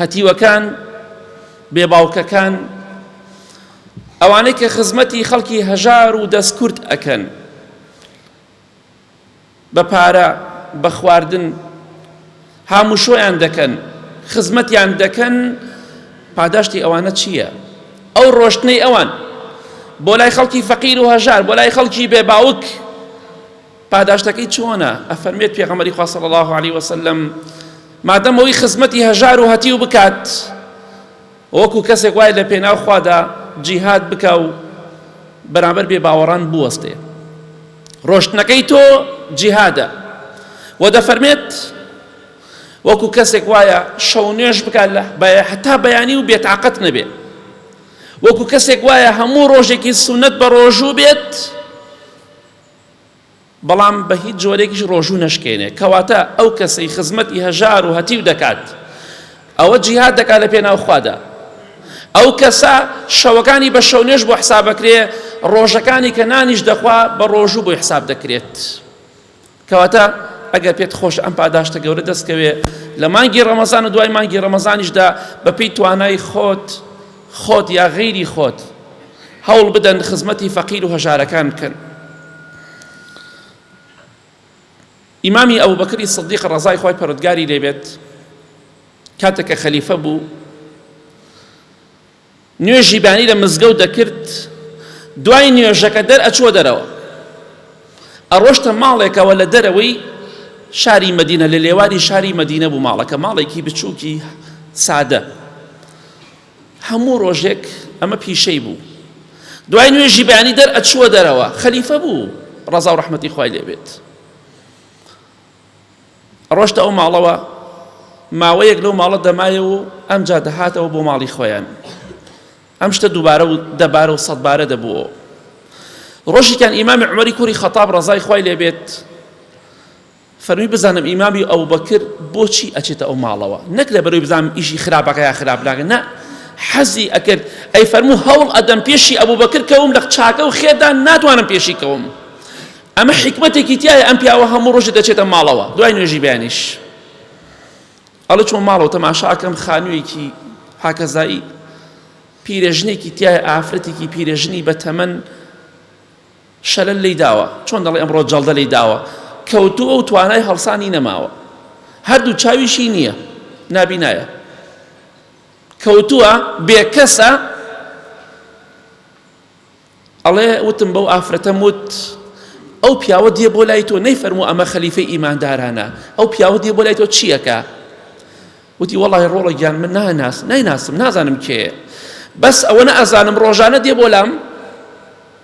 هەتیوەکان، بێ باوکەکان، ئەوانەی کە خزمەتی خەڵکی هەژار و دەستکورت ئەکەن بە پارە بە خواردن هاموشۆیان دەکەن خزمەتیان دەکەن پاداشتی ئەوانە چییە؟ ئەو ڕۆشتنەی ئەوان بۆ لای خەڵکی فەقیر و هەژار بۆ لای خەڵکی بێباوک پاداشتەکەی چۆنە؟ ئەفەرموێت پێغەمبەری خوا صلی الله علیه و سلم مادەم ئەوی خزمەتی هەژار و هەتیو بکات وەکو کەسێک وای لە پێناو خوادا جیهاد بکا و بەرامبەر بێ باوەڕان بوەستێ ڕۆشتنەکەی تۆ جیهادە و دەفەرمێت وەکو کەسێک وایە شەو نوێش بکات لە هەتا بەیانی و بێتاقەت نەبێت وەکو کەسێک وایە هەموو ڕۆژێکی سونەت بە ڕۆژوو بێت بەڵام بە هیچ جۆرێکیش ڕۆژوو نەشکێنێ، کەواتە ئەو کەسەی خزمەتی هەژار و هەتیو دەکات ئەوە جیهاد دەکات لە پێناو خوادا، ئەو کەسە شەوەکانی بە شەونوێژ بۆ حساب ئەکرێ، ڕۆژەکانی کە نانیش دەخوا بە ڕۆژوو بۆی حساب دەکرێت. کەواتە ئەگەر پێت خۆش ئەم پاداشتە گەورە دەستکەوێ لە مانگی ڕەمەزان و دوای مانگی ڕەمەزانیشدا بەپێی توانای خۆت خۆت یا غەیری خۆت هەوڵ بدەن خزمەتی فەقیر و هەژارەکان بکەن. ئیمامی ئەبوبەکری سدیق ڕەزای خوای پەرۆدگاری لێبێت کاتێک کە خەلیفە بوو نوێژی بانی لە مزگەوت دەکرد دوای نوێژەکە دەر ئەچووە دەرەوە ئەڕۆشتە ماڵێکەوە لە دەرەوەی شاری مدینە لە لێواری شاری مدینە بوو ماڵەکە ماڵێکی بچووکی سادە هەموو ڕۆژێک ئەمە پیشەی بوو. دوای نوێژی بەیانی دەر ئەچووە دەرەوە خەلیفە بوو ڕەزا و ڕەحمەتی خوای لێبێت ڕۆشتە ئەو ماڵەوە ماوەیەک لەو ماڵە دەمایە و ئەمجا دەهاتەوە بۆ ماڵی خۆیان ئەم شتە دووبارە و دەبارە و سەدبارە دەبووەوە ڕۆژیکان ئیمامی عمەری کوری خەتاب ڕزای خوای لێبێت فەرمی بزانم ئیمامی ئەبوبەکر بۆچی ئەچێتە ئەو ماڵەوە نەک لە بەرەوەی بزانم ئیشی خراپەکە یا خراپ ناکە نا حەزی ئەکرد ئەی فەرموو هەوڵ ئەدەم پێشی ئەبوبەکر کەوم لە چاکە و خێردا ناتوانم پێشی کەوم ئەمە حیکمەتێکی تایە ئەم پیاوە هەموو ڕۆژێ دەچێتە ماڵەوە دوای نوێژی بەیانیش ئەڵە چۆن ماڵەوە تەماشاکەم خانوویەکی هاکەزایی پیرێژنێکی تایە ئافرەتێکی پیرێژنی بە تەمەن شەلەل لێی داوە، چۆن دەڵێی ئەمڕۆ جەڵدە لێی داوە، کەوتووە و توانای هەڵسانی نەماوە، هەردوو چاویشی نییە، نابینایە، کەوتووە، بێکەسە، ئەڵێ وتم بەو ئافرەتەم وت ئەو پیاوە دێ بۆ لای تۆ نەیفەرموو ئەمە خەلیفەی ئیماندارانە، ئەو پیاوە دێ بۆ لای تۆ چییەکە؟ وتی وەڵی ڕۆڵە گیان من ناناس نایناسم نازانم کێ بەس ئەوەنە ئەزانم ڕۆژانە دێ بۆ لام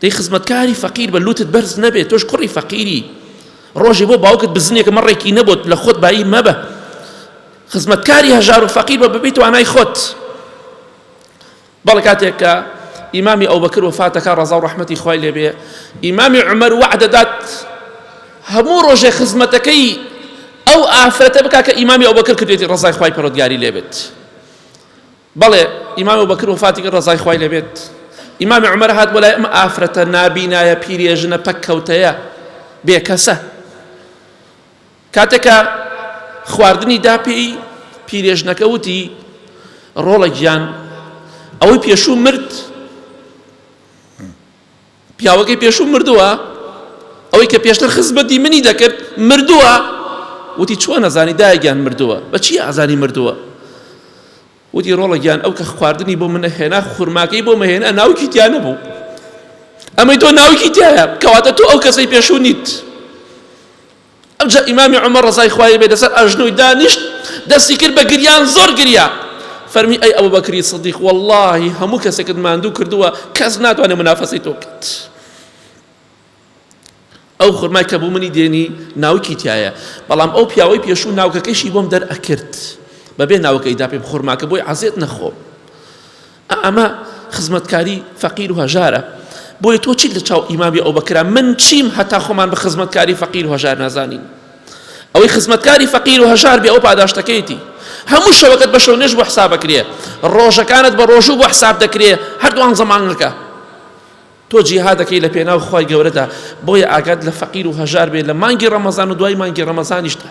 دەی خزمەتکاری فەقیر بە لوتت بەرز نەبێ تۆش کوڕی فەقیری ڕۆژێ بۆ باوکت بزنێ کە مەڕێکی نەبوت لە خۆت بایی مەبە خزمەتکاری هەژار و فەقیر بە ببیت وانای خۆت بەڵێ کاتێک کە ئیمامی ئەو بەکر وفاتەکە ڕەزا و ڕەحمەتی خوای لێبێ ئیمامی عمر وعدەدات هەموو ڕۆژێ خزمەتەکەی ئەو ئافرەتە بک کە ئیمامی ئەو بەکر کردێتی ڕزای خی پەرۆتگاری لێبێت بەڵێ ئیمام ئەبوبەکر وەفاتی کرد ڕەزای خوای لێبێت ئیمام عومەر هات بۆ لای ئەم ئافرەتە نابینایە پیرێژنە پەککەوتەیە بێکەسە کاتێکە خواردنی دا پێی پیرێژنەکە وتی ڕۆڵە گیان ئەوەی پێشوو مرد پیاوەکەی پێشوو مردووە ئەوەی کە پێشتر خزمەتی منی دەکرد مردووە وتی چۆن ئەزانی دایگیان مردووە بەچی ئازانی مردووە وتی ڕۆڵە گیان ئەو کە خواردنی بۆ منە هێنا خورماکەی بۆ مەهێنا ناوکی تیا نەبوو ئەمەی تۆ ناوکی تایە کەواتە تۆ ئەو کەسەی پێشوو نیت ئەوجا ئیمامی عومەر ڕەزای خوای بێت لەسەر ئەژنۆی دانیشت دەستی کرد بە گریان زۆر گریا فەرمی ئەی ئەبوبەکری سدیق وەڵڵاهی هەموو کەسێکت ماندوو کردووە کەس ناتوانێت منافەسەی تۆ بکات ئەو خورمای کە بوو منی دێنی ناوکی تایە بەڵام ئەو پیاوەی پێشوو ناوکەکەشی بۆم دەرئەکرد بەبێ ناوکەیدا پێم خورماکە بۆی عزیێت نەخۆم ئەمە خزمەتکاری فەقیر و هەژارە بۆیە تۆ چیت لە چاو ئیمامی ئەو بەکرا من چیم هەتا خۆمان بە خزمەتکاری فەقیر و هەژار نازانین ئەوەی خزمەتکاری فەقیر و هەژار بێ ئەو پاداشتەکەیتی هەموو شەوەکەت بە شەو نوێژ بۆ حسابەکرێ ڕۆژەکانت بە ڕۆژوو بۆ حساب دەکرێ هەردووان زەمانگەکە تۆ جیها دەکەی لە پێناو خی گەورەدا بۆیە ئاگات لە فەقیر و هەژار بێ لە مانگی ڕەمەزان و دوای مانگی ڕەمەزانیشدا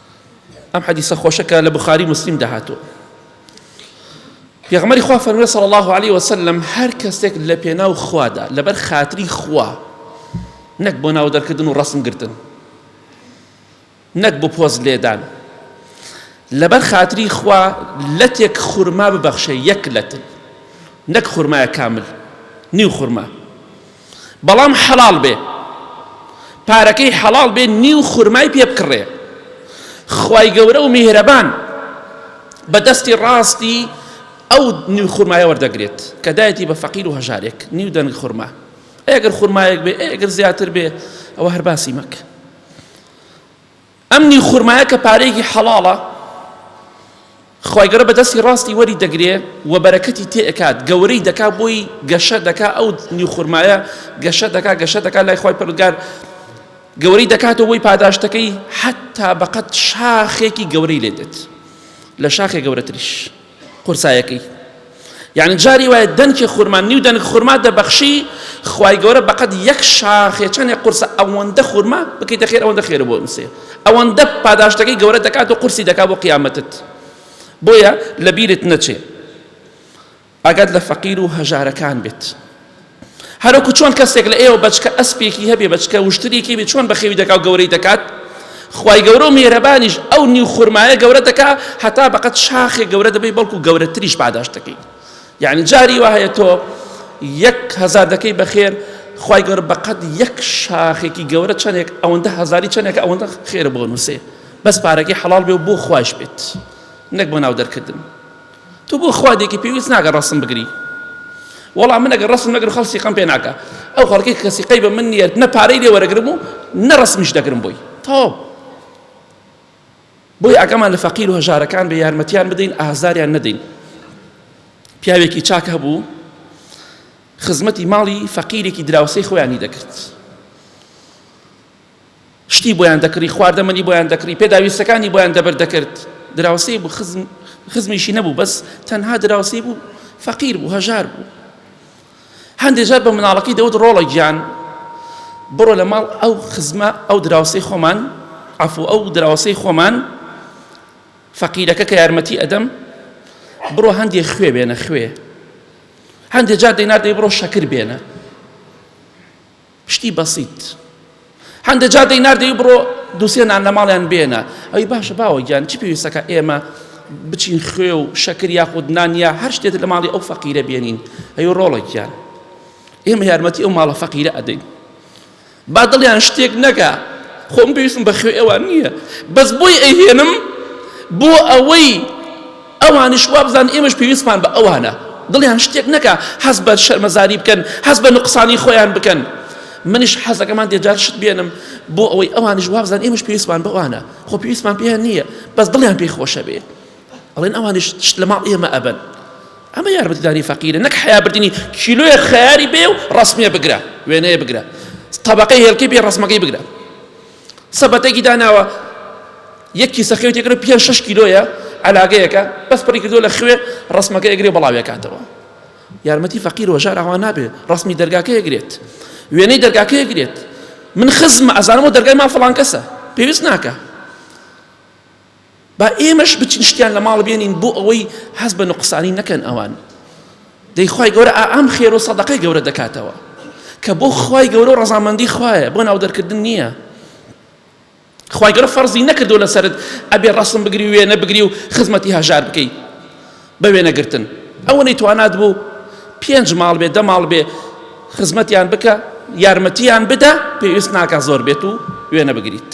ئەم حەدیسە خۆشە کە لە بخاری مسلیم دەهاتوە پێغمەری خوا فەرمێ صلی الله عليه وسلم هەر کەسێک لە پێناو خوادا لەبەر خاتری خوا نەک بۆ ناو دەرکردن و ڕسم گرتن نەک بۆ پۆز لێدان لەبەر خاتری خوا لەتێک خورما ببەخشێ یەک لەت نەک خورمایە کامل نیو خورما بەڵام حەڵاڵ بێ پارەکەی حەڵاڵ بێ نیو خورمای پێ بکڕێ خوای گەورە و میهرەبان بە دەستی ڕاستی ئەو نیو خورمایە وەردەگرێت کە دایەتی بە فەقیر و هەژارێک نیو دەنگ خورما ئەگەر خورمایەک بێ ئەگەر زیاتر بێ ئەوە هەر باسی مەکە ئەم نیو خورمایە کە پارەیەکی حەڵاڵە خوای گەورە بە دەستی ڕاستی وەری دەگرێ و بەرەکەتی تێ ئەکات گەورەی دەکا بۆی گەشە دەکا ئەو نیو خورمایە گەشە دەکا گەشە دەکا لای خوای پەرودگار گەورەی دەکاتەوە بۆی پاداشتەکەی حتا بەقەت شاخێکی گەورەی لێ دێت لە شاخێ گەورەتریش قورسایەکەی یعنی جاری وایە دەنکی خورما نیو دەنک خورما دەبەخشی خوای گەورە بەقەت یەک شاخێ چەندێ قورسە ئەوەندە خورما بکەیتە خێر ئەوەندە خێرە بۆ نووسێ ئەوەندە پاداشتەکەی گەورە دەکات و قورسی دەکات بۆ قیامەتت بۆیە لەبیرت نەچێ ئاگات لە فەقیر و هەژارەکان بێت هەروەکو چۆن کەسێک لە ئێوە بەچکە ئەسپێکی هەبێ بەچکە وشترێکی بێ چۆن بەخێوی دەکا و گەورەی دەکات خوای گەورە و میهرەبانیش ئەو نیو خورمایە گەورە دەکا هەتا بەقەت شاخێک گەورە دەبی بەڵکو گەورەتریش پاداش دەکەیت یعنی جاری وا هەیە تۆ یەک هەزار دەکەی بەخێر خی گەور بەقەت یەک شاخێکی گەورە چەندێک ئەوەندە هەزاری چەندێک ئەوەندە خێرە بۆ نووسێ بەس پارەکەی حەڵال بێ و بۆ خوش بێت نەک بۆ ناو دەرکردن تۆ بۆ خوا دێکی پێویست ناکە ڕەسم بگری وەڵا من ئەگەر ڕەسم نەگرم خەڵک سیقەم پێ ناکە ئەو خەڵکی کە سیقەی بە من نییە نە پارەی لێ وەرەگرم و نە ڕەسمیش دەگرم بۆی تەواو بۆی ئاگامان لە فەقیر و هەژارەکان بە یارمەتیان بدەین ئازاریان نەدەین پیاوێکی چاک هەبوو خزمەتی ماڵی فەقیرێکی دراوسەی خۆیانی دەکرد شتی بۆیان دەکڕی، خواردەمەنی بۆیان دەکڕی، پێداویستەکانی بۆیان دەبەر دەکرد. دراوسێی بوو، خزم، خزمیشی نەبوو، بەس تەنها دراوسێی بوو، فەقیر بوو، هەژار بوو. هەندێک جار بە مناڵەکەی دەوت ڕۆڵە گیان بڕۆ لە ماڵ ئەو خزمە ئەو دراوسێی خۆمان عەفو ئەو دراوسێی خۆمان فەقیرەکە کە یارمەتی ئەدەم بڕۆ هەندێ خوێ بێنە خوێ هەندێک جار دەیناردەی بڕۆ شەکر بێنە شتی بەسیت هەندێ جار دەینار دەی بڕۆ دووسێ نان لە ماڵیان بێنە ئەوی باشە باوە گیان چی پێویستەکە ئێمە بچین خوێ و شەکر یاخود نان یا هەر شتێت لە ماڵی ئەو فەقیرە بێنین ئەی ڕۆڵێکیان ئێمە یارمەتی ئەو ماڵە فەقیرە ئەدەین با دڵیان شتێک نەکە خۆم پێویستم بە خوێ ئەوان نییە بەس بۆی ئەیهێنم بۆ ئەوەی ئەوانیش وابزانن ئێمەش پێویستمان بە ئەوانە، دڵیان شتێک نەکا هەست بە شەرمەزاری بکەن، هەست بە نوقسانی خۆیان بکەن. منیش حەزەکەمان دێجار شت بێنم بۆ ئەوەی ئەوانیش وابزانن ئێمەش پێویستمان بەوانە، خۆ پێویستمان پێیان نییە، بەس دڵیان پێی خۆشە بێ ئەڵێن ئەوانیش شت لە ماڵ ئێمە ئەبەن. ئەمە یارمەتیداری فەقیرە نەک حەیا بردنی کیلۆیەک خەیاری بێ و ڕەسمێ بگرە وێنەیە بگرە تەبەقەی هێلکەی بێ ڕەسمەکەی بگرە. سەبەتەکی داناوە یەک کیسە خوێ تێکرە پێ شش کیلۆیە علاگەیەکە بەس پڕی کردو لە خوێ ڕسمەکە ئەگرێ بەڵاوێکاتەوە یارمەتی فەقیر وەژار ئەوە نابێ ڕسمی دەرگاکە ئەگرێت وێنەی دەرگاکە ئەگرێت من خزمە ئەزانەوە دەرگای ماڵ فڵان کەسە پێویست ناکە با ئێمەش بچین شتیان لە ماڵ بێنین بۆ ئەوەی هەست بە نوقسانی نەکەن ئەوان دەی خوای گەورە ئام خێر و سەدەقەی گەورە دەکاتەوە کە بۆ خوای گەورە و ڕەزامەندی خوایە بۆ ناو دەرکردن نییە خوای گەورە فەرزی نەکردو لەسرت ئەبێ ڕسم بگری وێنە بگری و خزمەتی هەژار بکەی بە وێنەگرتن ئەوەی توانات بوو پێنج ماڵ بێ دە ماڵ بێ خزمەتیان بکە یارمەتیان بدە پێویست ناکە زۆر بێت و وێنە بگریت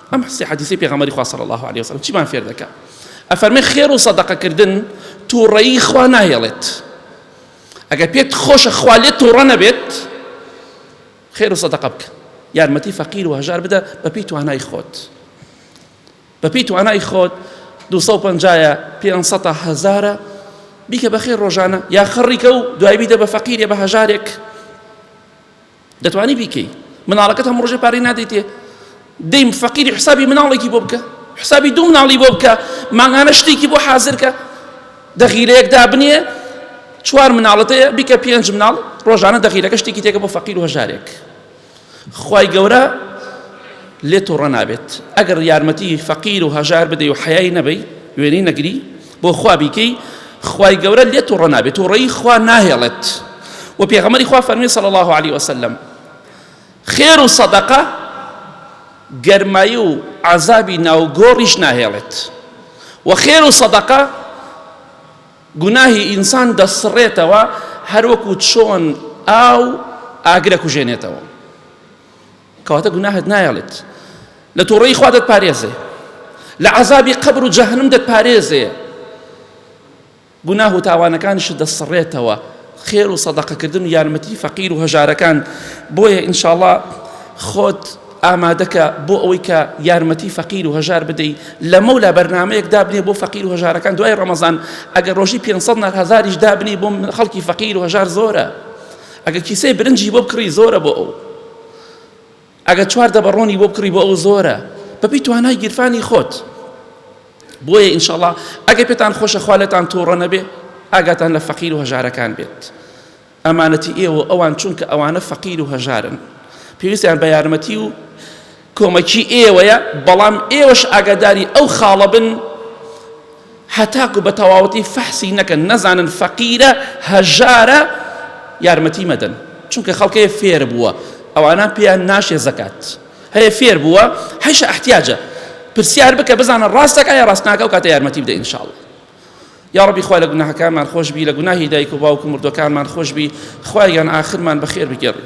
ئەم سێ حەدیسەی پێغەمبەری خوا صلی الله علیه وسلم چیمان فێر دەکا ئەفەرمێ خێر و سەدەقەکردن تووڕەیی خوا ناهێڵێت ئەگەر پێت خۆشە خوا لێت تووڕە نەبێت خێر و سەدەقە بکە یارمەتی فەقیر و هەژار بدە بەپی توانای خۆت بەپی توانای خۆت 250 500 هزارە بیکە بەخێر ڕۆژانە یا خڕیکە و دوای بیدە بە فەقیرێ بە هەژارێک دەتوانی بیکەی مناڵەکەت هەموو ڕۆژێ پارەی نادەیتێ دەیم فەقیری حسابی مناڵێکی بۆ بکە حسابی دوو مناڵی بۆ بکە مانگانە شتێکی بۆ حازرکە دەغیرەیەک دابنێ چوار مناڵەتەیە بیکە پێنج مناڵ ڕۆژانە دەغیرەکە شتێکی تێکە بۆ فەقیر و هەژارێک خی گەورە لێ تۆڕە نابێت ئەگەر یارمەتی فەقیر و هەژار بدەی و حەیای نەبەی وێنەی نەگری بۆ خوا بیکەی خوای گەورە لێ توڕە نابێت توڕەی خوا ناهێڵێت و پێغەمەری خوا فەرمی صلی الله عليه وسلم خێر و سەدەقە گەرمایی و عذابی ناوگۆڕیش ناهێڵێت و خێر و سەدەقە گوناهی ئینسان دەسڕێتەوە هەروەکو چۆن ئاو ئاگرە کوژێنێتەوە کەواتە گوناهت نایەڵێت لە تووڕەیی خوا دەتپارێزێ لە عەزابی قەبر و جەهەنم دەتپارێزێ گوناه و تاوانەکانشت دەسڕێتەوە خێر و سەدەقەکردن و یارمەتی فەقیر و هەژارەکان بۆیە ئینشاءڵڵا خۆت ئامادەکە بۆ ئەوەی کە یارمەتی فەقیر و هەژار بدەی لە مەولا بەرنمەیەک دابنێ بۆ فەقیر و هەژارەکان دوای ڕەمەزان ئەگەر ڕۆژی 500 هزاریش دابنی بۆ خەڵکی فەقیر و هەژار زۆرە ئەگە کیسەی برنجی بۆ بکڕی زۆرە بۆ ئەو ئەگە چوار دەبە ڕۆنی بۆ بکڕی بۆ ئەو زۆرە بەپی توانای گیرفانی خۆت بۆیە ئینشاءڵا ئەگە پێتان خۆشە خوا لێتان تووڕە نەبێ ئاگاتان لە فەقیر و هەژارەکان بێت ئەمانەتی ئێوە ئەوان چونکە ئەوانە فەقیر و هەژارن پێویستیان بە یارمەتی و کۆمەکی ئێوەیە بەڵام ئێوەش ئاگاداری ئەو خاڵە بن هەتاکو بە تەواوەتی فەحسی نەکەن نەزانن فەقیرە هەژارە یارمەتی مەدەن چونکە خەڵکەیە فێر بووە ئەوانە پێیان ناشێ زەکات هەیە فێر بووە هەیشە احتیاجە پرسیار بکە بزانە ڕاستەکە یا ڕاستناکە و کاتە یارمەتی بدە انشاءڵ یا ڕبی خوا لە گوناهەکانمان خۆشببی لە گوناهی دایک و باوکو مردەکانمان خۆشببی خوایان ئاخرمان بەخێر بگەڕی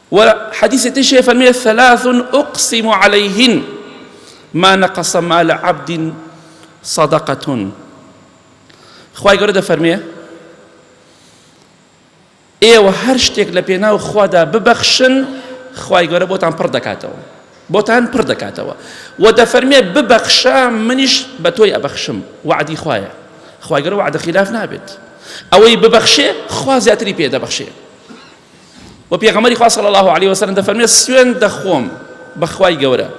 وە حەدیسی تریش هەیە فەرموێ ثلاث اقسم علیهن ما نقص مال عبد صدقة خوای گەورە دەفەرمێ ئێوە هەر شتێک لە پێناو خوادا ببەخشن خوای گەورە بۆتان پڕ دەکاتەوە بۆتان پڕ دەکاتەوە و دەفەرمێ ببەخشە منیش بە تۆی ئەبەخشم وعدی خوایە خوای گەورە وعدە خلاف نابێت ئەوەی ببەخشێ خوا زیاتری پێ دەبەخشێ وە پێغەمبەری خوا صلی اللە علیە وسلم دەفەرمێت سوێن دەخۆم بە خوای گەورە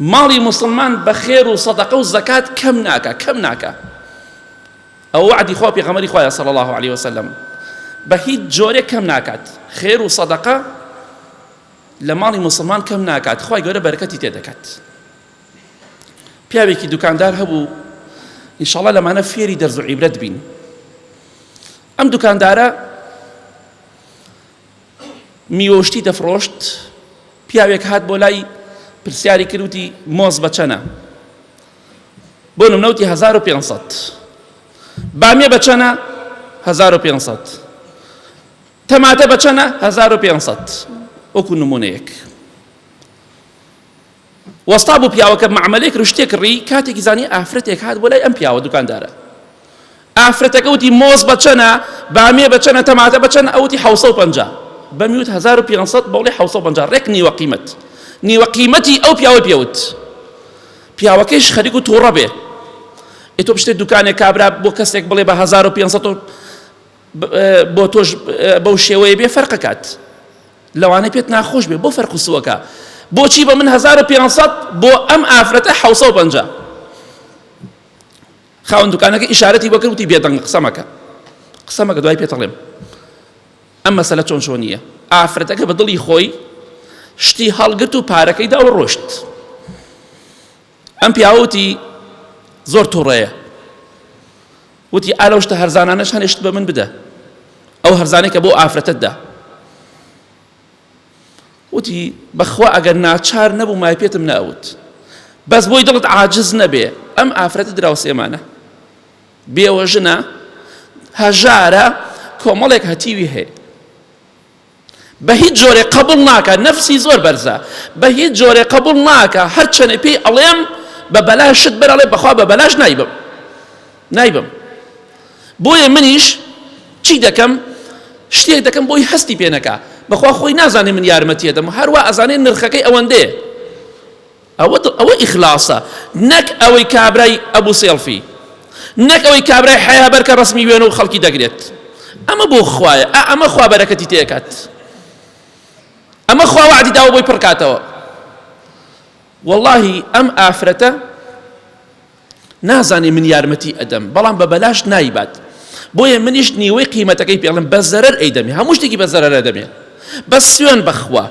ماڵی موسڵمان بە خێر و سەدەقە و زەکات کەم ناکە کەم ناکە ئەو وعدی خوا پێغەمبەری خوایە صلی اللە علیە وسلم بە هیچ جۆرێک کەم ناکات خێر و سەدەقە لە ماڵی مسلمان کەم ناکات خی گەورە بەرکەتی تێ دەکات پیاوێکی دوکاندار هەبوو ئینشاڵە لەمانە فێری دەرز و عیبرەت بین ئەم دوکاندارە میوەشتی دەفرۆشت پیاوێک هات بۆ لای پرسیاری کردوتی مۆز بە چەنە بۆ نمنەوتی 1500 بامیە بە چەنە 1500 تەماتە بە چەنە 1500 وەکو نمونەیەک وەستا بوو پیاوەکە مەعمەلێک رشتێک کڕی، کاتێکی زانی ئافرەتێک هات بۆ لای ئەم پیاوە دوکاندارە. ئافرەتەکە وتی مۆز بە چەنە، بامیە بە چەنە، تەماتە بە چەنە، ئەو وتی حەوت سەد و پەنجا. بەمی وت هەزار و پێنج سەد، بەوڵی حەوت سەد و پەنجا، رێک نیوە قیمەت. نیوە قیمەتی ئەو پیاوەی پێ وت. پیاوەکەیش خەریک و تووڕە بێ. ئێ تۆ بچتە دوکانێ کابرا بۆ کەسێک بڵێ بە هەزار و پێنج سەد و بۆ تۆش بەو شێوەیە بێ فەرقەکات لەوانەیە پێت ناخۆش بێ بۆ فەرق و سووەکە بۆچی بە من 1500 بۆ ئەم ئافرەتە 650 خاوەن دوکانەکە ئیشارەتی بەکرد وتی بێدەنگ قسەمەکە قسەمەکە دوای پێتەڵێم ئەم مەسەلە چۆن چۆنیە ئافرەتەکە بە دڵی خۆی شتی هەڵگرت و پارەکەی دا و ڕۆشت ئەم پیاوە وتی زۆر توڕەیە وتی ئالەو شتە هەرزانانەش هەنێشت بە من بدە ئەو هەرزانەی کە بۆ ئافرەتت دا وتی بەخوا ئەگەر ناچار نەبوو مای پێتم ناوت بەس بۆی دڵت عاجز نەبێ ئەم ئافرەتە دراوە سێمانە بێوە ژنە هەژارە کۆمەڵێک هەتیوی هەیە بە هیچ جۆرێک قەبوڵ ناکا نەفسی زۆر بەرزە بە هیچ جۆرێک قەبوڵ ناکا هەر چەنێ پێی ئەڵێم بە بەلاش شت بەر ئەڵێ بەخوا بە بەلاش نایبم نایبم بۆیە منیش چی دەکەم شتێک دەکەم بۆی هەستی پێ نەکا بەخوا خۆی نازانێ من یارمەتیە دەم هەروە ئەزانێ نرخەکەی ئەوەندەیە ئەوە دڵ ئەوە ئیخلاسە نەک ئەوەی کابرای ئەبو سێڵفی نەک ئەوەی کابرای حەیا بەر کە ڕەسمی وێنە و خەڵکی دەگرێت ئەمە بۆ خوایە ئا ئەمە خوا بەرەکەتی تێکات ئەمە خوا وعدی داوە بۆی پڕکاتەوە واللهی ئەم ئافرەتە نازانێ من یارمەتی ئەدەم بەڵام بە بەلاش نایبات بۆیە منیش نیوەی قیمەتەکەی پێڵم بە زەرەر ئەیدەمێ هەموو شتێکی بە زەرەرە دەمێ بەس سوێن بەخوا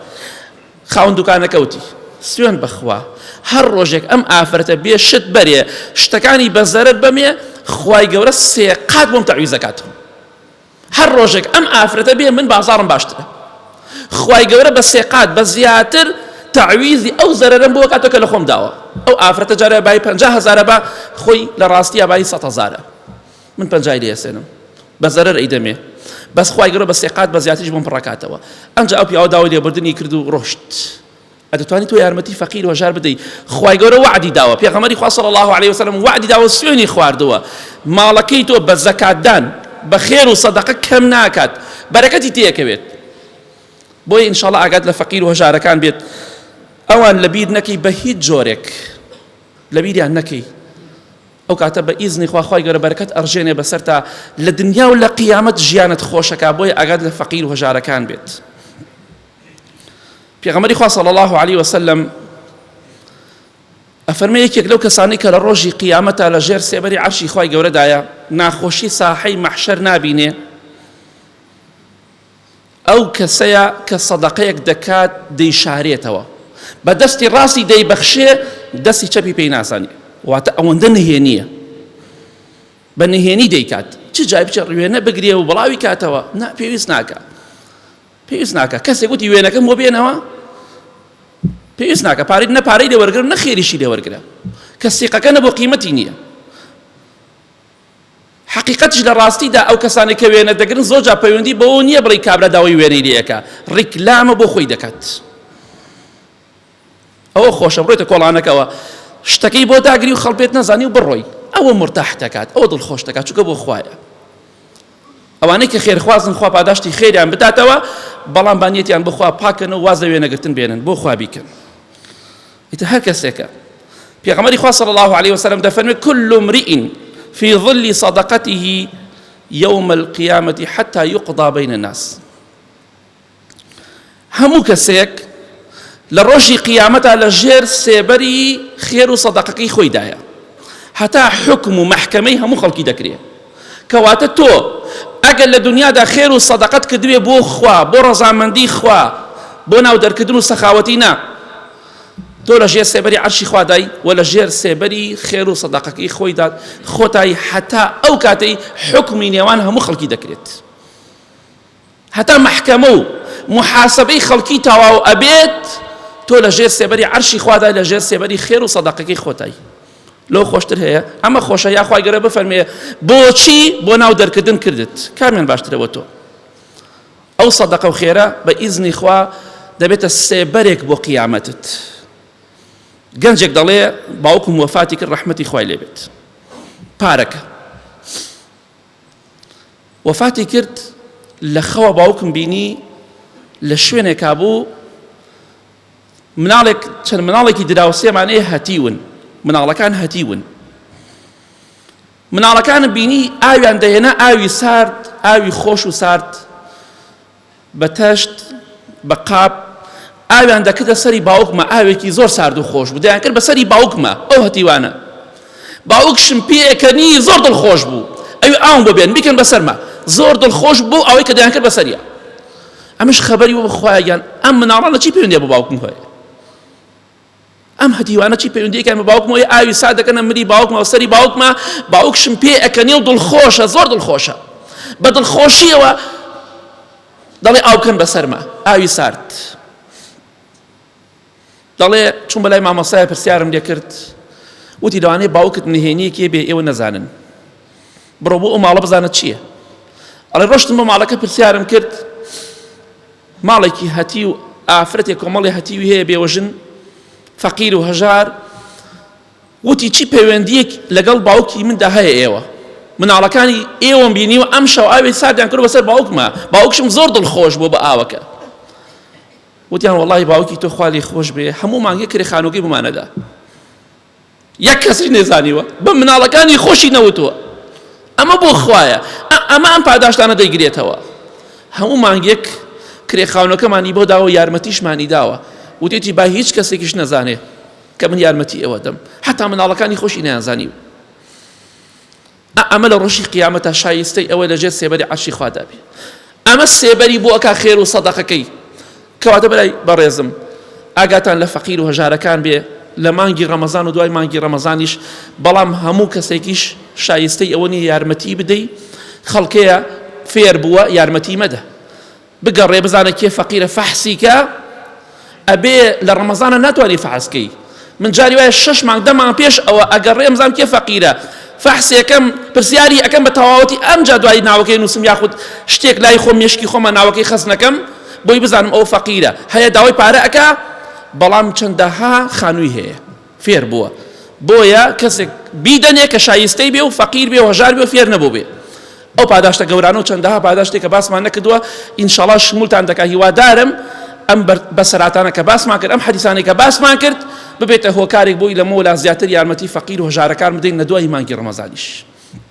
خاون دوکانەکەوتی سوێن بەخوا هەر ڕۆژێک ئەم ئافرەتە بێ شت بەرێ شتەکانی بە زەرەر بەمێ خوای گەورە سێ قات بۆم تەعویزەکاتەوە هەر ڕۆژێک ئەم ئافرەتە بێ من بازاڕم باشترە خوای گەورە بە سێ قات بە زیاتر تعویزی ئەو زەرەرم بۆ کاتۆ کە لە خۆم داوە ئەو ئافرەتە جارە بای پنج هزارە بە خۆی لە ڕاستیە بای سە هزارە من پنجای لێسێنم بە زەرەر ئەیدەمێ بەس خوای گەورە بە سێ قات بە زیاتریش بۆم پڕکاتەوە ئەنج ئەو پیاوە داوای لێبوردنی کرد و ڕۆشت ئەتوانی تۆ یارمەتی فەقیر وەژار بدەی خوای گەورە وعدی داوە پێغەمەری خوا صلی الله علیه وسلم وعدی داوە سوێنی خواردووە ماڵەکەی تۆ بە زەکاتدان بە خێر و سەدەقە کەم ناکات بەرەکەتی تێکەوێت بۆیە ئینشاڵە ئاگات لە فەقیر و هەژارەکان بێت ئەوان لەبیر نەکەی بە هیچ جۆرێک لەبیریان نەکەی ئەو کاتە بە ئیزنی خواخوای گەورە بەرەکەت ئەڕژێنێ بەسەر تا لە دنیا و لە قیامەت ژیانت خۆشەکە بۆیە ئاگات لە فەقیر و هەژارەکان بێت. پێغەمبەری خوا صلی الله علیه و سلم ئەفەرمێ یەکێک لەو کەسانی کە لە ڕۆژی قیامەتە لە ژێر سێبەری عەرشی خوای گەورەدایە ناخۆشی ساحەی مەحشەر نابینێ ئەو کەسەیە کە سەدەقەیەک دەکات دەیشارێتەوە بە دەستی ڕاستی دەیبەخشێ دەستی چەپی پێی ناسانی واتە ئەوەندە نهێنیە بە نهێنی دەیکات چ جای بچە ڕوێنە بگرێ و بڵاوی کاتەوە نا پێویست ناکە پێویست ناکە کەسێک وتی وێنەکەم بۆ بێنەوە پێویست ناکە پارەی نە پارەی لێ وەرگرە نە خێریشی لێ وەرگرە کە سیقەکە نە بۆ قیمەتی نییە حقیقەتش لە ڕاستیدا ئەو کەسانی کە وێنە دەگرن زۆر جا پەیوەندی بەوە نییە بڵی کابرا داوای وێنەی لەکە ڕیکلامە بۆ خۆی دەکات ئەوە خۆشە بڕۆیتە کۆڵانەکەوە شتەکەی بۆ داگری و خەڵ پێت نەزانی و بڕۆی ئەوە مرتاح دەکات ئەوە دڵ خۆش دەکات چونکە بۆ خوایە ئەوانەی کە خێرخوازن خوا پاداشتی خێریان بداتەوە بەڵام بانیەتیان بخوا پاکن و واز لە وێنەگرتن بێنن بۆ خوا بیکەن ئیتە هەر کەسێکە پێغەمەری خوا صلی الله عليه وسلم دەفەرمێت كل امرئ في ظل صدقته يوم القيامة حتى يقضى بين الناس هەموو کەسێک لە ڕۆژی قیامەتا لە ژێر سێبەری خێر و سەدەقەکەی خۆیدایە هەتا حکم و مەحکەمەی هەموو خەڵکی دەکرێ کەواتە تۆ ئەگەر لە دنیادا خێر و سەدەقەت کردوێ بۆ خوا بۆ ڕەزامەندی خوا بۆ ناو دەرکردن و سەخاوەتی نا تۆ لە ژێر سێبەری عەرشی خوادای و لە ژێر سێبەری خێر و سەدەقەکەی خۆیدا خۆتای حەتا ئەو کاتەی حکمی نێوان هەموو خەڵکی دەکرێت هەتا مەحکەمە و موحاسەبەی خەڵکی تەواو ئەبێت تۆ لە ژێر سێبەری عەرشی خوادای لە ژێر سێبەری خێر و سەدەقەکەی خۆتای لەو خۆشتر هەیە ئەمە خۆشە یاخوای گەرە بفەرمێ بۆچی بۆ ناو دەرکردن کردت کامیان باشترە بۆ تۆ ئەو سەدەقە و خێرە بە ئیزنی خوا دەبێتە سێبەرێک بۆ قیامەتت گەنجێک دەڵێ باوکم وەفاتی کرد ڕەحمەتی خوای لێبێت پارەکە وەفاتی کرد لە خەوە باوکم بینی لە شوێنێکا بوو مناڵێک چەند مناڵێکی دراوسێمانەیە هەتیون مناڵەکان هەتیون مناڵەکانم بینی ئاویان دەهێنا ئاوی سارد ئاوی خۆش و سارد بە تەشت، بە قاپ، ئاویان دەکردە سەری باوکمە، ئاوێکی زۆر سارد و خۆش بوو، دەیانکرد بە سەری باوکمە، ئەو هەتیوانە. باوکشم پێیەکەنی، زۆر دڵخۆش بوو، ئەوی ئاوم بۆ بێنن، بیکەن بە سەرما. زۆر دڵخۆش بوو بەو ئاوەی کە دەیانکرد بە سەریا. ئەمنیش خەبەری بۆ بە خوایە گیان، ئەم مناڵانە چی پەیوەندیان بە باوکم هەیە؟ ئەم هەتیوانە چی پەیوەندیەکان بە باوکمەوە ئەی ئاوی سا دەکەنە ملی باوکمەوە سەری باوکمە باوکشم پێ ئەکەنی و دڵخۆشە زۆر دڵخۆشە بە دڵخۆشیەوە دەڵێ ئاوکەن بەسەرمە ئاوی سارد دەڵێ چون بەلای مامۆسای پرسیارم لێ کرد وتی لەوانەیە باوکت نهێنیەکێ بێ ئێوە نەزانن بڕۆ بۆ ئەو ماڵە بزانە چییە ئەڵێ ڕۆشتم بە ماڵەکە پرسیارم کرد ماڵێکی هەتیو ئافرەتێک کۆمەڵی هەتیوی هەیە بێوەژن فەقیر و هەژار وتی چی پەیوەندیەک لەگەڵ باوکی مندا هەیە ئێوە مناڵەکانی ئێوەم بینی و ئەم شەو ئاوێ سادیان کرد بەسەر باوکمە باوکشم زۆر دڵ خۆش بۆ بە ئاوەکە وتیان وڵی باوکی تۆ خالی خۆش بێ هەموو مانگە کرێ خانووگەی بمانەدا یەک کەسیش نەیزانیوە بە مناڵەکانی خۆشی نەوتووە ئەمە بۆ خوایە ئەمە ئەم پاداشتانە دەیگرێتەوە هەموو مانگێک کرێخاونەکەمانی بۆ داوە یارمەتیشمانی داوە وتێتی با هیچ کەسێکیش نەزانێ کە من یارمەتی ئێوە دەم حتا مناڵەکانی خۆشی نیانزانی و ئا ئەمە لە ڕۆژی قیامەتا شایستەی ئەوە لە ژێر سێبەری عەرشی خوادا بێ ئەمە سێبەری بۆ ئەکا خێر و سەدەقەکەی کەواتە بەلای بەڕێزم ئاگاتان لە فەقیر و هەژارەکان بێ لە مانگی ڕەمەزان و دوای مانگی ڕەمەزانیش بەڵام هەموو کەسێکیش شایستەی ئەوە نیە یارمەتی بدەی خەڵکەیە فێر بووە یارمەتی مەدە بگەڕێ بزانە کێ فەقیرە فەحسی کە ئەبێ لە ڕەمەزانە ناتوانانی فەحسکەی من جاری وایە شش مانگ دە مانگ پێش ئەوە ئەگەڕێم زام کێ فەقیرە فەحسێکەم پرسیاری ئەەکەم بە تەواوەتی ئەم جا دوای ناوەکەی نووسم یاخود شتێک لای خۆم مشکی خۆمە ناوەکەی خەزنەکەم بۆی بزانم ئەو فەقیرە هەیە داوای پارە ئەک بەڵام چەندەها خانووی هەیە فێر بووە بۆیە کەسێک بیدەنێ کە شایستەی بێ و فەقیر بێ و هەژار بێ و فێر نەبوو بێ ئەو پاداشتە گەورانە و چەندەها پاداشتێک کە باسمان نەکردووە ئینشاڵا شمولتان دەکا هیوادارم ئەم بەسەراتانە کە باسمان کرد ئەم حەدیسانەی کە باسمان کرد ببێتە هۆکارێک بۆی لەمەوە لا زیاتر یارمەتی فەقیر و هەژارەکان بدەین لە دوای مانگی ڕەمەزانیش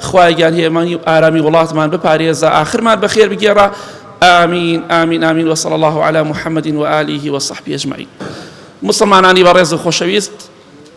خوایە گیان هێمانی و ئارامی وڵاتمان بپارێزە ئاخرمان بەخێر بگێڕە ئامین ئامین ئامین وصل الله على محمد وآله وصحبه أجمعين مسلمانانی بەڕێز و خۆشەویست